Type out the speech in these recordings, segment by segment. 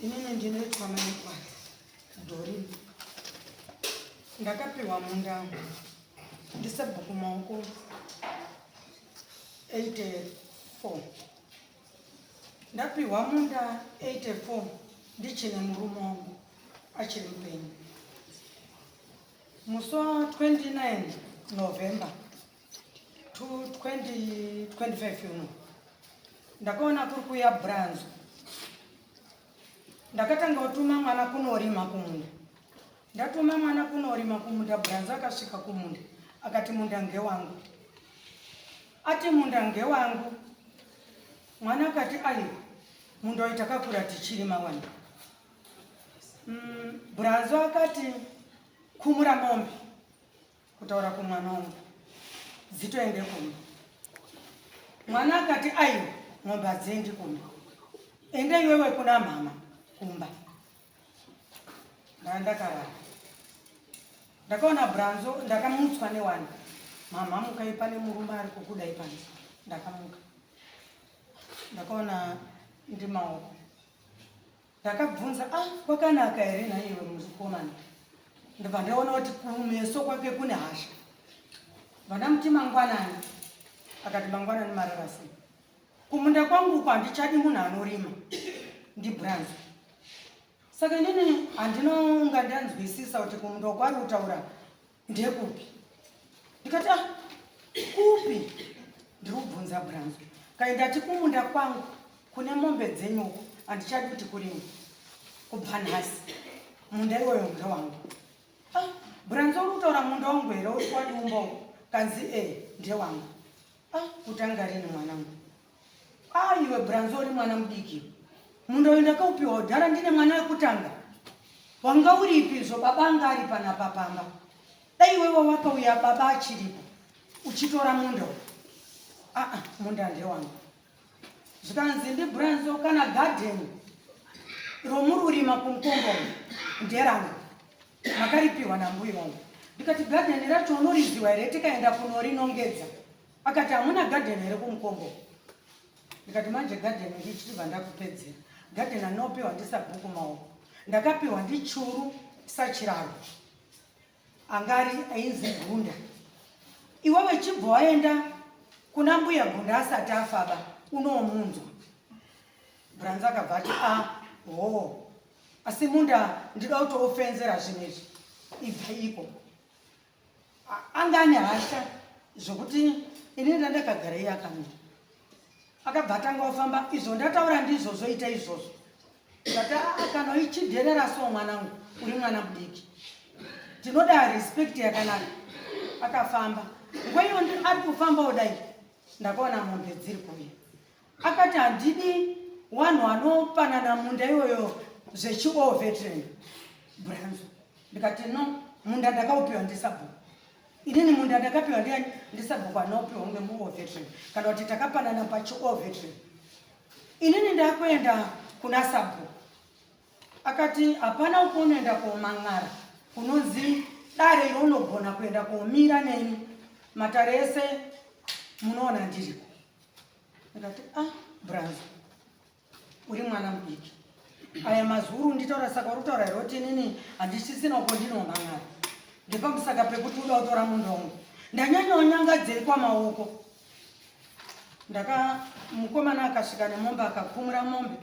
inini ndinoitwa maitwa dhori ndakapiwa munda ndisabhuku maoko 84 ndapiwa munda 84 ndichine murume wangu achiri mupenyu musi wa 29 november to 2025 uno ndakaona kuri kuya branzo ndakatanga kutuma mwana kunorima kumunda ndatuma mwana kunorima kumunda branzo akasvika kumunda akati munda ngewangu ati munda ngewangu mwana akati ayi munda uyu takakura tichirima wani mm, branzo akati kumura mombe kutaura kumwana wangu dzitoende kumba mwana akati aiwa mombe hadziendi kumba ende iwewe kuna mhama kumba ndaa ndakarara ndakaona branzo ndakamutswa newani mhamha mukai pane murume ari kukudai pano ndakamuka ndakaona ndimaoko Ndakabvunza, ah, kwakanaka here naiwe mukomana? Ndobva ndaona kuti kumeso kwake kune hasha. Vandamuti mangwanani, akati mangwanani mararasi. Kumunda kwangu uko handichadi munhu anorima, ndibranzi. Saka inini handinonga ndanzwisisa kuti kumunda kwari kutaura ndekupi ndikati ah, kupi ndiri kubvunza branzo kai ndati kumunda kwangu kune mombe dzenyuko handichadi kuti kurima kubva nhasi munda iwoyo munda wangu ah, branzo uri kutaura munda wangu here uri kwadiumba kanzi e ndewangu ah, kutanga rini mwanangu Ah, iwe Branzo uri mwana mudiki. Mundoenda kaupiwa udhara ndine mwana wekutanga. Wanga uripi izvo baba anga ari pana papamba. Dai iwe wawapa uya baba achiripo. Uchitora munda. Ah, ah, munda ndewanga. Zvikanzi ndi Branzo kana garden romuri urima kumkombo nderanga. Makaripiwa na mbuyi wangu. Ndikati garden racho unoriziwa here tikaenda kunorinongedza. Akati hamuna garden here kumukombo? Ndikati manje garden ndichibva ndakupedzera. Garden anopiwa ndisabhuku maoko. Ndakapiwa ndichuru sachiraro. Angari ainzi Gunda. Iwewe chibva waenda kuna mbuya Gunda asati afaba unomunzwa. Branza akabva ati ah hoo. Asi munda ndida kuti ofenzera zvinhu izvi. Ibva iko. anga ane hasha zvokuti ini ndandakagara iye akamira akabva atanga ofamba izvo ndataura ndizvozvo ita izvozvo ndati aa kana ichidherera so mwanangu uri mwana mudiki tinoda respect yakanaka akafamba ngweiyo ari kufambawo dai ndakaona mombe dziri kuuya Akati handidi wanhu wanopanana munda iyoyo zvechiwo veteran branzo ndikati no munda ndakaupiwa ndisabhuku inini munda ndakapiwa ndiani ndisabhuku anaupiwa umwe muwo veteran kana kuti takapanana pachiwo veteran inini ndakuenda kuna sabhuku akati hapana ukunoenda kuoman'ara kunonzi dare iro unogona kuenda kuomira neni matare ese munoona ndiriko ndikati ah braza uri mwana mudiki aya mazuru nditaura saka uri kutaura here kuti nini handichisina uko ndinonangana ndipamusaka pekuti uda kutora munhu wangu ndanyanyonyangadzei kwamaoko ndaka mukomana akasvika nemombe akakumura mombe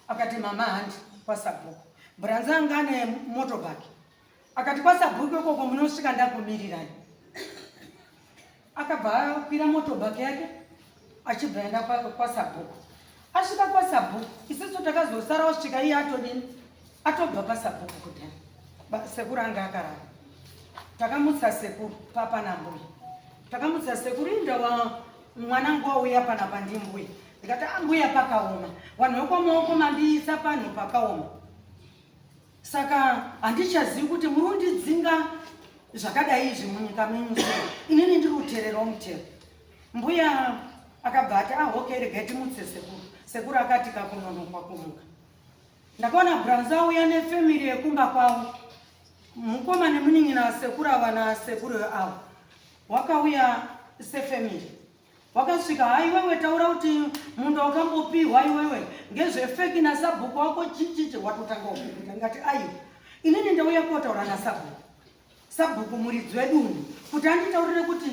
akati mama handi kwasabhuku bhuranza anga ane motobhaki akati kwasabhuku ikoko munosvika ndakumirirai akabva akwira motobak yake achibva aenda kwasabhuku asvika kwasabhuku isiso takazosara osvika iye atodini atobva pasabhuku kudhani sekuru anga akarara takamutsa sekuru papana mbuya takamutsa sekuru inda mwana nguva uya pana pandimbuya ndikati ambuya ah, pakaoma vanhu vekwamaoko mandiisa panhu pakaoma Saka handichazivi kuti muri kundidzinga zvakadai izvi munyika menyu se inini ndiri kuteererawo mutero. Mbuya akabva ati ah okay regai timutse sekuru. Sekuru akati kakunonokwa kumuka. Ndakaona Branza auya nefamily yekumba kwavo. Mukoma nemunin'ina wasekuru ava nasekuru avo wakauya sefamily. wakasvika ha iwewe taura kuti munda wakambopihwa iwewe ngezvefeki nasabhuku wako chichichi watotanga kuita ngati ayi inini ndauya kotaura nasabhuku sabhuku muridzi wedunhu kuti anditaurire kuti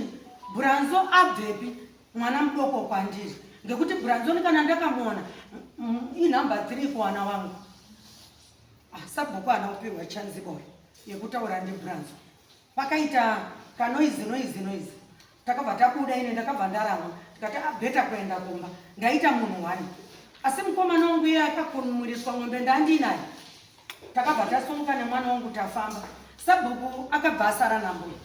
bhuranzo abvepi mwana mudoko kwandiri ngekuti bhuranzo ni kana ndakamuona inhamba three kuwana wangu ah, sabhuku hana kupihwa chanzi boy yekutaura ndibhuranzo pakaita kanoizi noizi noizi takabva tabuda ine ndakabva ndarama tikati abeta ah, kuenda kumba ndaita munhu wani asi mukomana wangu iye akakunumuriswa mombe ndandiinayo takabva tasumuka nemwana wangu tafamba sabhuku akabva asara nambuya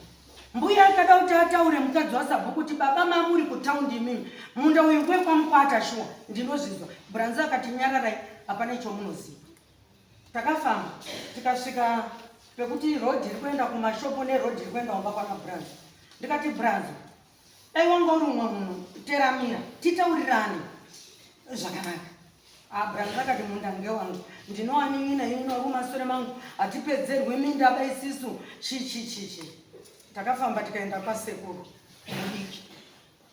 mbuya akada kuti ataure mukadzi wasabhuku kuti baba mamuri kutaundi imimi munda uyu wekwamukwata shuwa ndinozvizwa bhuranzi akati nyararai hapane chomunoziva Takafamba tikasvika pekuti road iri kuenda kumashopo neroad iri kuenda kumba kwana Branzo. Ndikati Branzo, dai wanga uri umwe munhu teramira titaurirane zvakanaka. Ah, Branzo akati munda ngewangu ndinowanin'ina ini noru masure mangu hatipedzerwi minda bai isisu chichichichi. Takafamba tikaenda kwasekuru mudiki.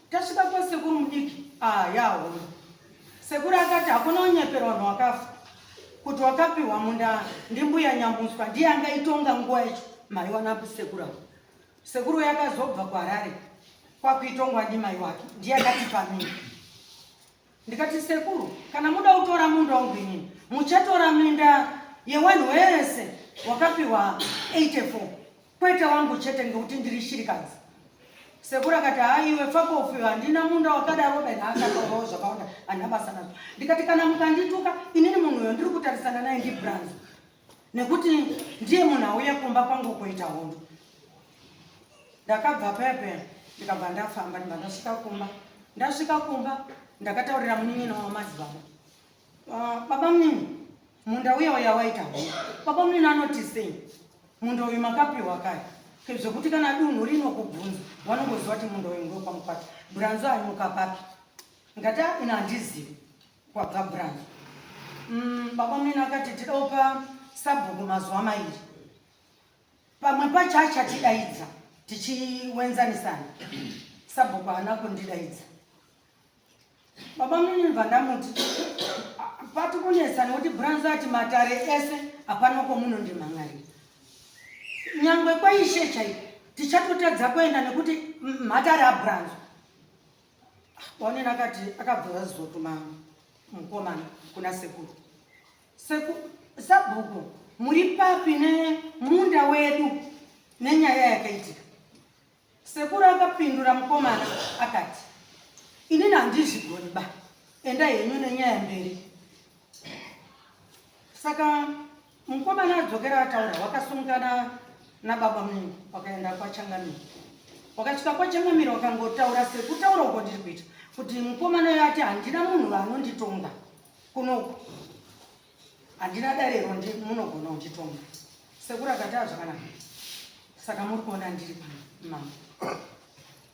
Tasvika kwa sekuru mudiki ah yaho. Sekuru akati hakuna unyeperwa vanhu wakafa. Kuti wakapiwa munda ndimbuya nyamuswa ndiye anga itonga nguwa yacho mai wana sekuru. Sekuru yakazobva kwa Harare kwakuitongwa ndimai wake ndiye akati pamini. Ndikati sekuru kana muda kutora munda wangu inini muchatora minda yewanhu wese wakapiwa 84 kwete wangu chete ngekuti ndiri shirikadzi. Sekuru akati haa iwe fakofi handina munda wakadaro ben akataurawo zvakawanda handina basa nazvo. Ndikati kana mukandituka inini munhu uyo ndiri kutarisana naye ndibranzo nekuti ndiye munhu auya kumba kwangu kuita hondo ndakabva pepe ndikabva ndafamba ndibva ndasvika kumba ndasvika kumba ndakataurira munin'ina wamadzibaba ah, baba munini munda uya uya waita hondo baba munini anoti sei munda uyu makapiwa kaya zvekuti kana dunhu rino kubvunza wanongoziva kuti munda uyu ndokwamukwati buranzo ari mukapapi ngati ina handizivi kwaGabrani. Mm, baba mene akati tida kupa sabhuku mazuva mairi pamwe pacho achatidaidza tichiwenzanisana sabhuku haana kundidaidza baba mene vandamuti pati kunetsa nekuti branzi ati matare ese hapana kwomuno ndimhan'ari nyangwe kwaishe chaipo tichatotadza kuenda nekuti matare abranzi Wanena akati akabvira zizotuma mukomana kuna sekuru. Seku sabhuku muri papi nemunda wedu nenyaya yakaitika. Sekuru akapindura mukomana akati inini handizvigoni ba enda henyu nenyaya mberi. Saka Mukomana adzokera ataura wakasungana nababa mungu wakaenda kwachangamiro wakasvika kwachangamiro wakangotaura sekutaura uko ndiri kuita kuti mukomana uyo ati handina munhu vaanonditonga kunoku handina darero munogona unditonga sekuru akataa zvakanaka saka muri kuona ndiri pamama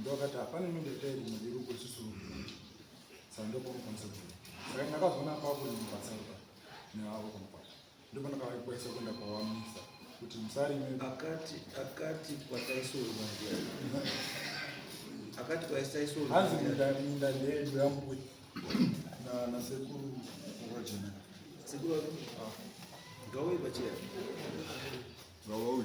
ndokati hapana imwe ndaita iri mudzi iri kususurwa saka ndopanokwanisa kuita saka ndakazoona apapo ndimubasa ruka neavo kumupata ndopanakavaikwaisa kuenda kwawamisa kuti musarime akati akati kwataisorwa akati kwaisaisorwa hanzi minda ndeedu yambuya nasekuru rojena sekuru wako ah. ngawoi pachia ngawoi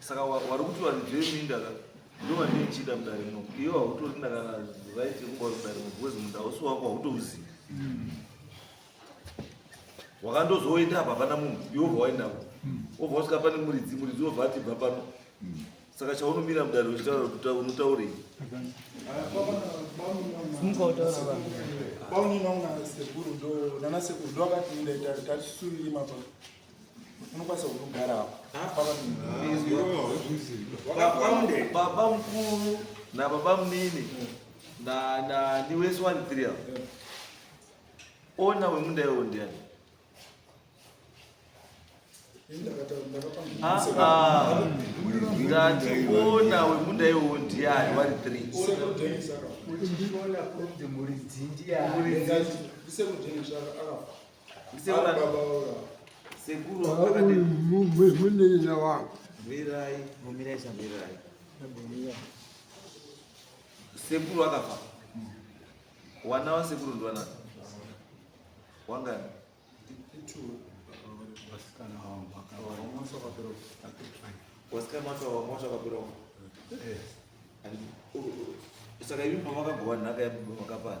saka wari kuti vanhu zveminda ka ndovandii chida mudare muno iwe hautori ndakana right yekuba uri mudare muno bcause munda usi wako hautouzivi hmm. wakandozoenda apa hapana munhu iwe obva waendako obva wasvika pane muridzi muridzi obva atibva pano hmm. saka chaunomira mudare uchitaura kuti unotaurei bauninaunaasekuru ndo nanasekuru ndo akati ndaita tatisunirima pano unokwanisa kugara baba mkuru na baba mnini na na ni wese wani three avo ona wemunda iwo ndiani ndati ona wemunda iwo ndiani wari three munenya wangu bwirai mumirai sabwirai sekuru akafa wana wasekuru ndiwana wangani vasikana vacho vamwacho vakapera saka imi pamakagowa nhaka yamakapanha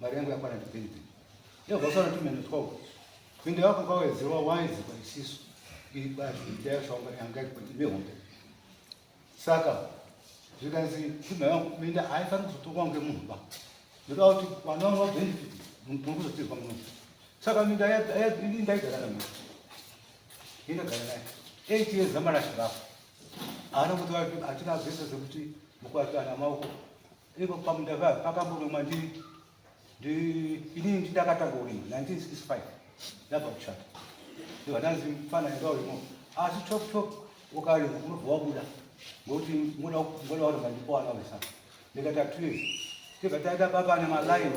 mari yangu yakwana ndipende yavhasana tumene twavo pinde yako kawezewa waizi paisiso iri bazi ndayasvaunga yanga kuti mihombe saka zvikanzi pfuma yangu minda haifaniri kuzotongwa ngemunhu ba ndoda kuti vana vangu vabenefit muri kuzotirwa munhu saka minda ndaigara namai indagara naye eight years amarashirako haana kuti atina zvese zvekuti mukuatsvana maoko Ipo pamunda paya pakamboromwa ndi ndi inini ndidakatanga kurima 1965 ndabva kushata ndiva ndanzi mfana enda urimo asi chop chop ukarima unobva wabuda ngokuti ngoda ngoda warima ndipo wana wesa ndikati atuye tibva taita baba nemaline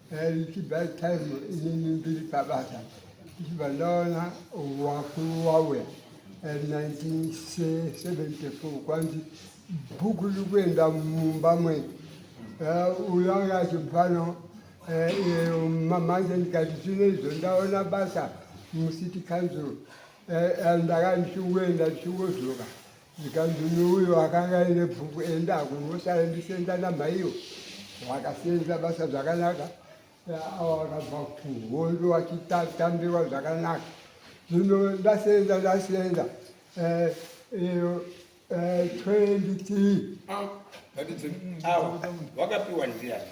Richibva time inini ndiri pabasa ndichibva ndaona wakuru wauya 1974 kwanzi bhuku riri kuenda mumba mwedu uyo anga achibvano manje ndikati zvino izvo ndaona basa mucity council ndakandichiuenda ndichingozoroka Zvikanzi uyu uyu akanga aine pfuku enda kumusha endisenza namaiyo vakasenza basa zvakanaka ava vakabva kuhondo vachitambirwa zvakanaka zvino ndasenza ndasenza eh, iyo eh, 20 tii vakapiwa ndiani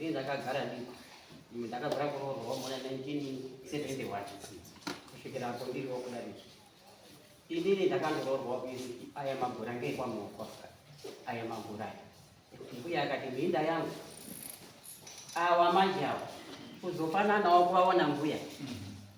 Ini ndakagara ndiko ndakagara kuroorwa muna 1971 kusvikira apo ndiriwo kudarika inini ndakangoroorwa kuizi aya magura ngeekwamuoko aya magura aya mbuya akati minda yangu awa manje awa kuzofananawo kuvaona mbuya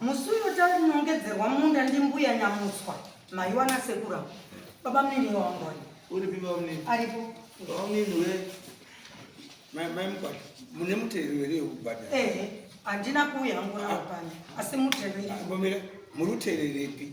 Musi uyo tarinongedzerwa munda ndimbuya Nyamutswa maiwa nasekuru avo. Baba munini wangu wani. Uripi baba munini? Aripo. Baba munini we mai mai mkwati mune mutero here yekubhadhara? Eh, handina kuuya hangu nawo pano asi mutero. Mbomira muri utererepi?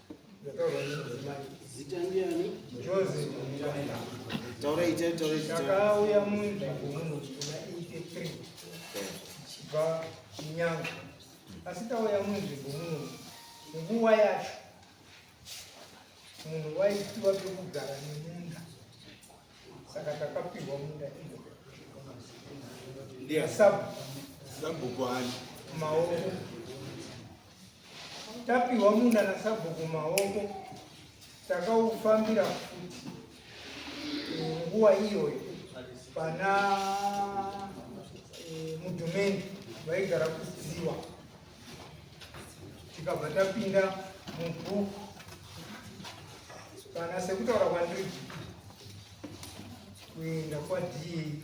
takauya munzvimbo muno kuna 83 tichibva chinyanga asi tauya munzvimbo muno nguva yacho munhu waitiwa pekugara nemunda saka takapihwa munda iyosabu maoko Tapihwa munda nasabhuku maoko takaufambira futi nguva iyoyo pana eh, mudhumeni vaigara kuziwa tikabva tapinda mubhuku kana sekutaura kwandiri kuenda kwadii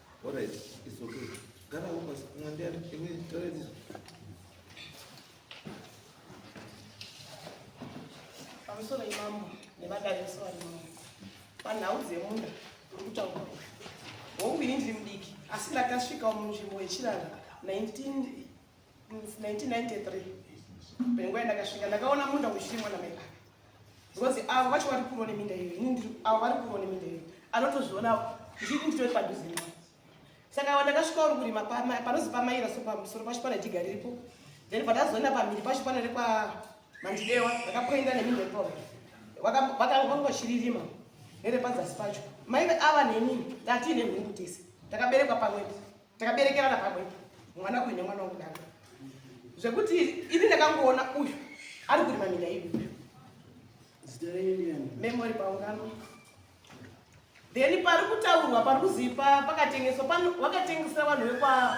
Alright, it's okay. Gara huko mwambia iwe toa hizo. Pamusoro imambo nemadariso ari mambo panhau dzemunda uri kutaura hongu ini ndiri mudiki asi ndakasvikawo munzvimbo yechirara 19 1993 penguva yandakasvika ndakaona munda uchirimwa namai vake because avo vacho vari kurwa neminda iyo ini avo vari kurwa neminda iyo anotozviona ndii nditoi padhuze navo saka ava ndakasvika uri kurima panozi pamaira so pamusoro pacho pana jiga riripo then pandazoenda pamhiri pacho pana rekwa mandidewa ndakapoenda neminda ipapo vakangongochiririma nerepadzasi pacho maive ava neni ndatiine nhungu tese takaberekwa pamwepo takaberekerana pamwe mwana uyu nemwana wangu danga zvekuti ini ndakangoona uyu ari kurima mina ivi memory paungano then pari kutaurwa pari kuzipa pakatengeswa vakatengesera vanhu vekwa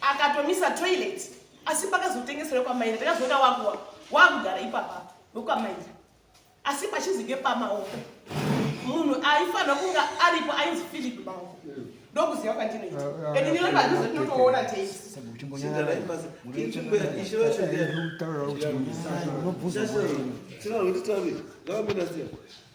akatomisa toilet asi pakazotengesera kwamainda takazoona wakuwa wakugara ipapa nokwamainda asi pachinzi ngepamaoko munhu aifanira kunga aripo ainzi philip maoko ndokuziva kwandinoita and nile padhuze tinotoona teisiaaaaaaaaa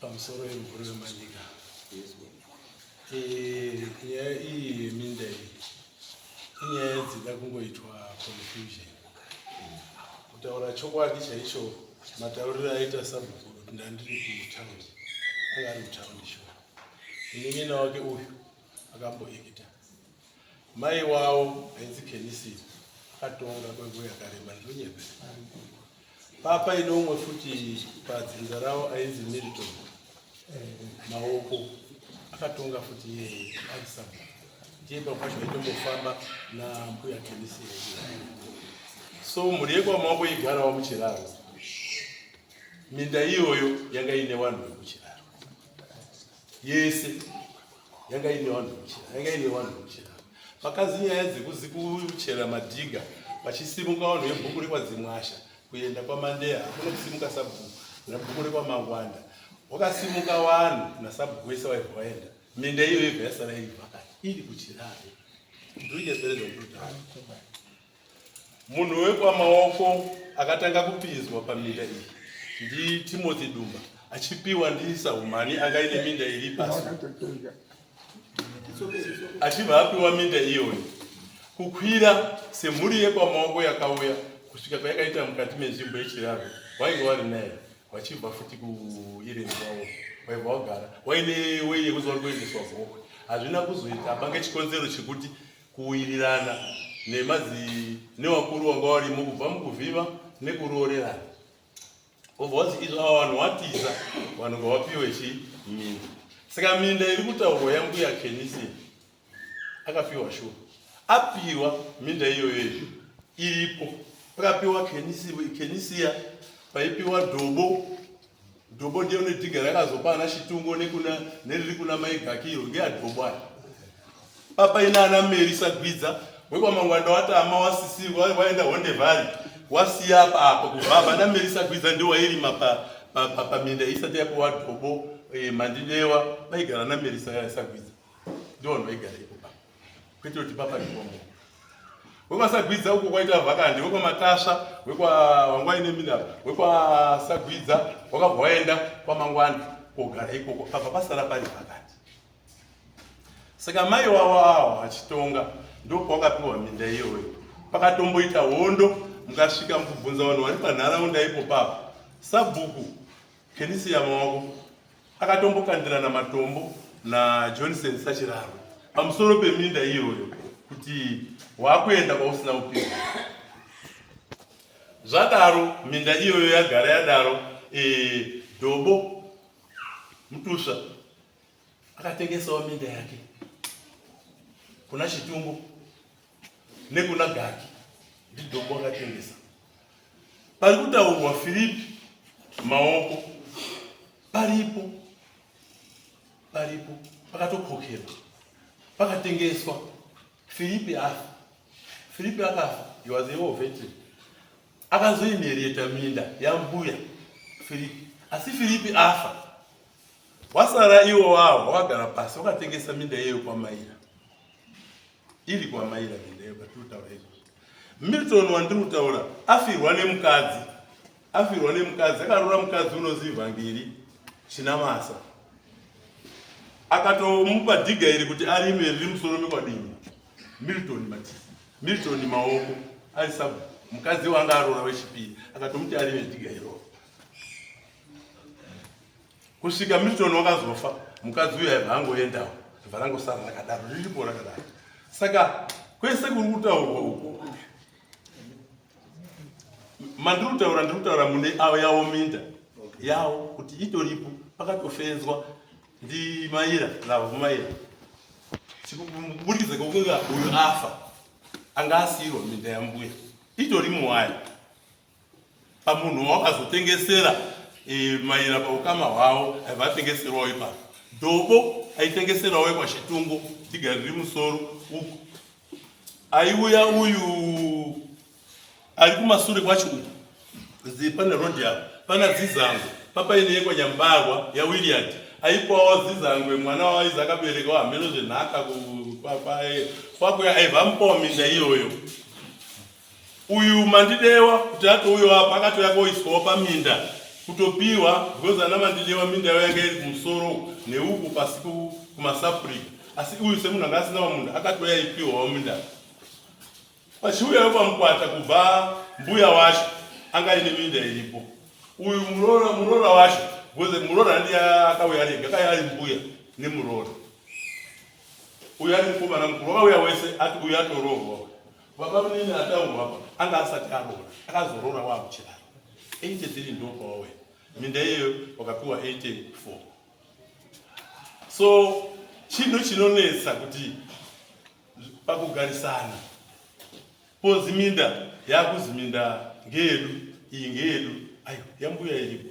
pamusoro yemhuri wemanyika eh, nyaya iyi yeminda iyi inyaya dzida kungoitwa confusion kutaura chokwadi chaicho matauriro aita sabhuku ndandiri kutaundi anga ari mutaundi sho munin'ina wake uyu akamboekita Mai wawo ainzi Kenisi akatonga kwenguva yakareba ndonyepe. Papa ine umwe futi padzinza rawo ainzi Milton Maoko akatonga futi iyeye aisaba ndiye papa zvacho aitombofamba nambuya Kenisi so mhuri yekwamaoko igarawo muchiraro minda iyoyo yanga ine vanhu vekuchiraro yese yanga ine vanhu vekuchera yanga ine vanhu vekuchera pakanzi nyaya dzekuzikuchera madhiga vachisimuka vanhu vebhuku rekwadzimwasha kuenda kwamandeya hakuna kusimuka sabhuku nabhuku rekwamangwanda wakasimuka vanhu nasabhuku wese waibva vaenda minda iyo yega yasara iri pakati iri kuchirare ndoiyapereza kutotanga Munhu wekwamaoko akatanga kupinzwa paminda iyi ndiTimothy Dumba achipiwa ndiSahumani anga ine minda iri pasi achibva apiwa minda iyoyo kukwira semhuri yekwamaoko yakauya kusvika kwayakaita mukati menzvimbo yechiraro wainge wari naye wachibva futi kuireni kwavo waibva wagara waine wei yekuziva uri kuendeswa gokwe hazvina kuzoita pange chikonzero chekuti kuwirirana nevakuru vanga varimo kubva mukuvhiva nekuroorerana obva wazi izvo ava vanhu watiza vanhu ngavapiwe chi minda saka minda iri kutaurwa yambuya kenisi akapiwa shuwa apiwa minda iyoyo iyo iripo pakapiwa kenisiya paipiwa dhobo Dhobho ndiyo nedhiga rakazopa ana Chitungo nekuna neriri kuna mai Gaki iro ngeadhobho aya. Papa ina ana Meri sagwidza wekwamangwanda watama wasisirwa waenda Honde Valley wasiya apa apa kubvabva ana Meri sagwidza ndiwo wairima pa pa pa paminda isati yapuwa dhobho eh, mandidewa vaigara ana Meri sa- sagwidza ndiwo vanhu vaigara ipo papa. kwete kuti papa ndikongo wekwasagwidza uko kwaita vhakandi wekwamatasva wekwawangwaine mina wekwasagwidza wakabva waenda kwamangwani kogara ikoko pabva pasara pari vhakandi saka mai wavo awo achitonga ndopawakapiwa minda iyoyo pakatomboita hondo mukasvika mukubvunza vanhu vari panharaunda ipo papa sabhuku kenisiya mawako akatombokandirana matombo najohnson sachiraro pamusoro peminda iyoyo kuti waakuenda kwausina upenyu zvadaro minda iyoyo yagara yadaro e, dobo mutusva akatengesawo minda yake kuna chitungo nekuna gaki ndidombo akatengesa pari kutaurwa filipi maoko paripo paripo pakatokokerwa pakatengeswa filipi afa filipi akafa iwazeovete akazoinherieta minda yambuya filipi asi filipi afa wasara iwo wawo wakagara pasi wakatengesa minda iyeyo kwamaira iri kwamai ravindeyo patiri kutaura izvozvo milton wandiri kutaura afirwa nemukadzi afirwa nemukadzi akarora mukadzi unozi vhangeri chinamasa akatomupa dhiga iri kuti arime riri musoro mekwadini milton mati milton maoko ari sab mukadzi wanga arora wechipiri akatomuti arime dhiga iroo kusvika milton wakazofa mukadzi uyo aibva angoendawo ibva rangosara rakadaro riripo rakadaro saka kwese kuri kutaurwa uku mandiri kutaura ndiri kutaura mune avo yavo minda yavo kuti itoripo pakatofenzwa ndimaira navomaira kuburikidza kwekunga uyu afa anga asiyirwa minda yambuya itori muwaya pamunhu wawakazotengesera e, maira paukama hwavo aiva atengeserwawo ipapo dhobo aitengeserawo ekwachitungo tigari riri musoro uku aiuya uyu ari kumasure kwacho uku zi pane rodi apo pana dzizango papaine yekwanyambarwa yawilliard aipawo dzizangwe mwana waaizi akaberekawo hameno zvenhaka kwakuya aiva mupawo minda iyoyo Uyu Mandidewa kuti atouyawo apa akatouya koiswawo paminda kutopiwa because ana Mandidewa minda yavo yanga iri kumusoro neuku pasi kumasapurika asi uyu semunhu anga asina vamunda akatouya ipiwawo minda vachiuyawo pamukwata kubva mbuya wacho anga ine minda iripo uyu muroora muroora wacho because muroora ndiye akauya rega kaya ari mbuya nemuroora uyu ari mukomana mukuru wakauya wese ati uyu atoroorwa Baba munini ataurwa apa anga asati aroora akazoroora waakuchidaro 83 ndo pawawe minda iyeyo wakapiwa 84 so chinhu chinonetsa kuti pakugarisana pozi minda yakuzi minda ngeyedu iyi ngeyedu ayo yambuya iripo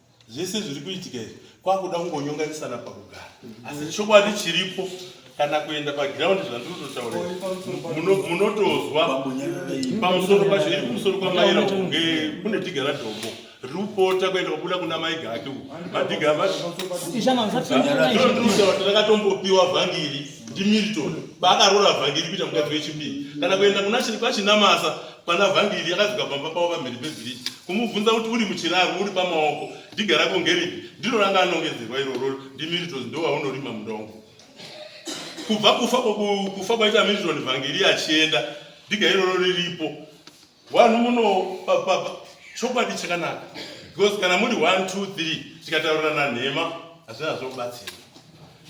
zvese zviri kuitika izvi kwakuda kungonyonganisana pakugara asi chokwadi chiripo kana kuenda pagiraundi zvandiri kutotaura munotozwa pamusoro pacho iri kumusoro kwamaira kunge kune dhiga radhombo riri kupota kuenda kubuda kuna mai gake uku madhiga amatiakatombopiwa vhangiri ndimilton baakaroora vhangiri kuita mukadzi wechipiri kana kuenda kuna kwachinamasa kwana vhangiri akadzoka pamba pavo pamhiri pebhiriji kumubvunza kuti uri muchiraro uri pamaoko diga rako ngeripi ndiro ranga anongedzerwa iroro ndimiritos ndovaunorima mudongo kubva kufa kufa kwaita miriton vhangiri achienda diga iroro riripo wanhu muno chokwadi chakanaka because kana muri 1 2 3 tikataurirana nhema hazvina zvobatsira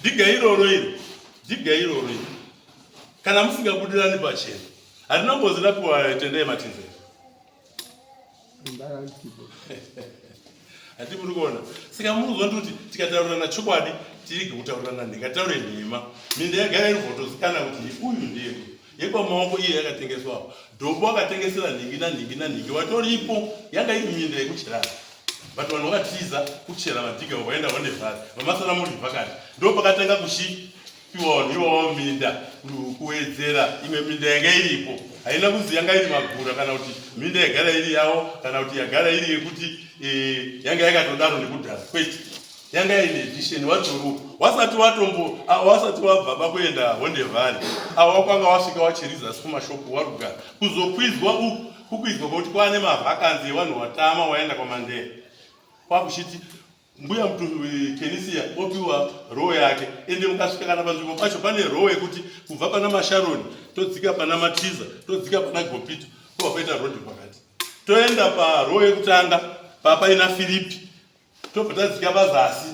diga iroro iri diga iroro iri kana musingabudirani pachena Hatina ngozi ndapiwa tendai matize. Hati muri kuona. Saka muri kuzwa kuti tikataurirana chokwadi tirege kutaurirana nheka taure nhema. Minda yagara iri votozikana kuti uyu ndiye. Yekwa maoko iye yakatengeswa. Dobo akatengesera nhingi na nhingi na nhingi watoripo yanga iri minda yekuchera. But vanhu vakatiza kuchera madhiga wakaenda wande vhari. Vamasana muri vakati. Ndipo pakatanga kushi tiwawo minda kuwedzera imwe minda yanga iripo haina kunzi yanga iri magura kana kuti minda yagara iri yawo kana kuti yagara iri yekuti eh, yanga yakatodaro nekudhara kwete yanga ine edition wadzoro wasati watombo wasati wabva pakuenda honde valley awo wakwanga wasvika wachiriza kumashopu waruga kuzokwizwa uku kukwizwa kwekuti kwane mavhakanzi evanhu watama waenda kwamandeya kwakuchiti mbuya eh, kenisia opiwa roho yake ende mukasvika kana panzvimbo pacho pane roho yekuti kubva pana masharoni todzika pana matiza todzika pana gopito kuva paita rodi pakati toenda paroho yekutanga papaina firipi tobva tadzika pazasi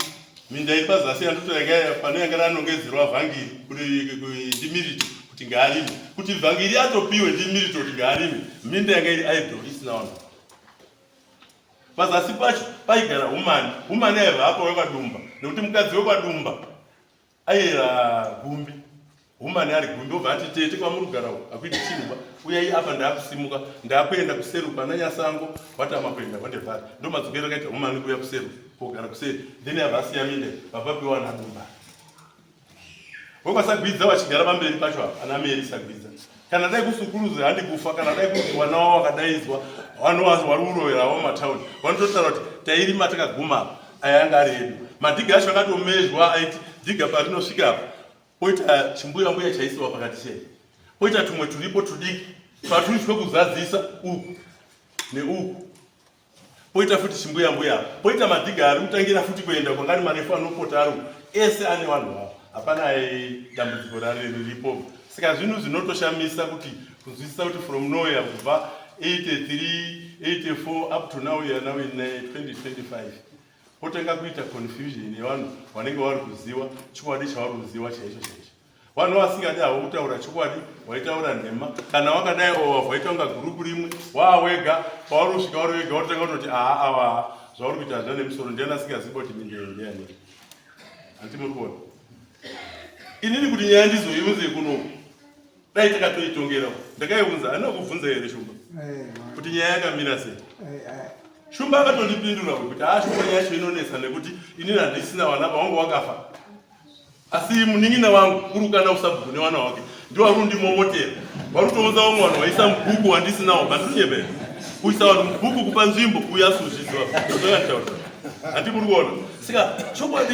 minda iri pazasi yandotoyanga pane yanga ranongedzerwa vhangiri kuti ndimirito kuti ngaarime kuti vhangiri atopiwe ndimirito kuti ngaarime minda yanga iri idol isina vanhu pazasi pacho paigara humani humani aiva apa wekwadumba nekuti mukadzi wekwadumba aiyera gumbi humani ari gumbi obva ati tete kwamuri kugara uku akuiti chimba uyai apa ndaakusimuka ndaakuenda kuseri uku ana nyasango watama kuenda kwandevhari ndo madzokero akaita humani kuuya kuseri kogara kuseri then ava asiyaminde vapapiwa nadumba Vovasagwidza vachigara pamberi pacho apa ana Meri Sagwidza. Kana dai kusukuruzi handi kufa kana dai kuti vana wavo vakadaidzwa vano vari kurovera avo mumatauni vanototaura kuti tairima takaguma apa aya anga ari edu. Madhiga acho akatomezhwa aiti dhiga parinosvika apa poita chimbuya mbuya chaisiwa pakati chei poita tumwe turipo tudiki paturi twekuzadzisa uku neuku poita futi chimbuya mbuya poita madhiga ari kutangira futi kuenda kwangari marefu anopota aro ese ane vanhu vavo hapana dambudziko rari riripo saka zvinhu zvinotoshamisa kuti kunzwisisa kuti from nowhere kubva 83 84 up to now ya now in 2025 eh, potanga kuita confusion yevanhu vanenge vari kuziva chokwadi chavari kuziva chaicho chaicho vanhu vasingadi havo kutaura chokwadi waitaura nhema kana wakadai owavha waita kunga gurupu rimwe waa wega pauri kusvika uri wega wototanga kutoti aha ava zvauri kuita hazvina nemusoro ndiani asingazivi kuti mindeendeyani hanti muri kuona inini kuti nyaya ndizoiunze kunoku dai takatoitongera ndakaiunza anina kubvunza here shumba eh, kuti nyaya yakamira sei eh, eh. shumba akatondipindura kuti haa shumba nyaya yacho inonetsa nekuti inini handisina vana pawangu wakafa asi munin'ina wangu kurukana usabhuku newana wake ndiwo vari kundimomotera vari kutounza vamwe vanhu vaisa mubhuku wandisinawo bandirinyebera kuisa vanhu mubhuku kupa nzvimbo kuuya asuzviziva zvakanitaura hati muri kuona saka chokwadi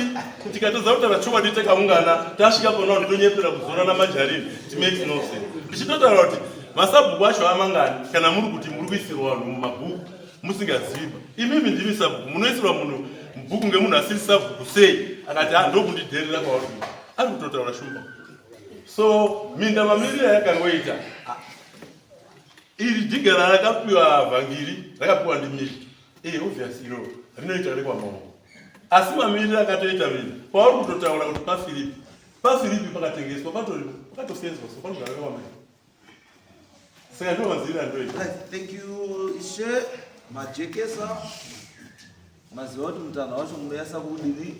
tikatadza kutaura chokwadi takaungana tasvika pona vanhu tonyepera kuzorana majarini timakes no sense ndichitotaura kuti masabhuku acho amangani kana muri kuti muri kuisirwa vanhu mumabhuku musingazivi imimi ndimi sabhuku munoisirwa munhu bhuku ngemunhu asiri sabhuku sei akati ah, ndokundidherera kwauri ari kutotaura shumba so minda mamiriro yakangoita ah, iri jigara rakapiwa vhangiri rakapiwa ndimiri ee eh, obvious iro rinoita rekwamaoko asi mamiriro akatoita minda kwauri kutotaura kuti pafiripi pafiripi pakatengeswa patori pakatosenzwa so panogara rekwamaoko Saka ndovaziira ndoita. Right, thank you ishe majekesa maziva kuti mutana wacho munoyasa kudini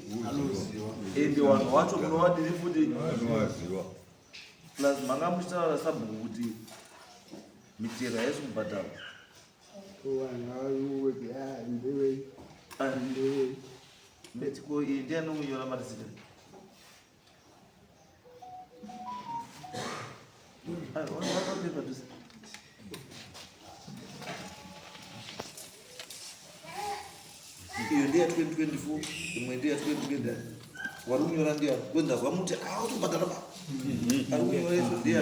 ende vanhu wacho munovadini futi plus manga muchitaura sabhuku kuti mitero haisi kubhadharwa ndetiko iyi ndianounyora marizita iyo ndiya 2024 imwe ndiya 2020 wari kunyora ndiya kwenza vamuti autobhadhara ba ari kunyora izvo ndiya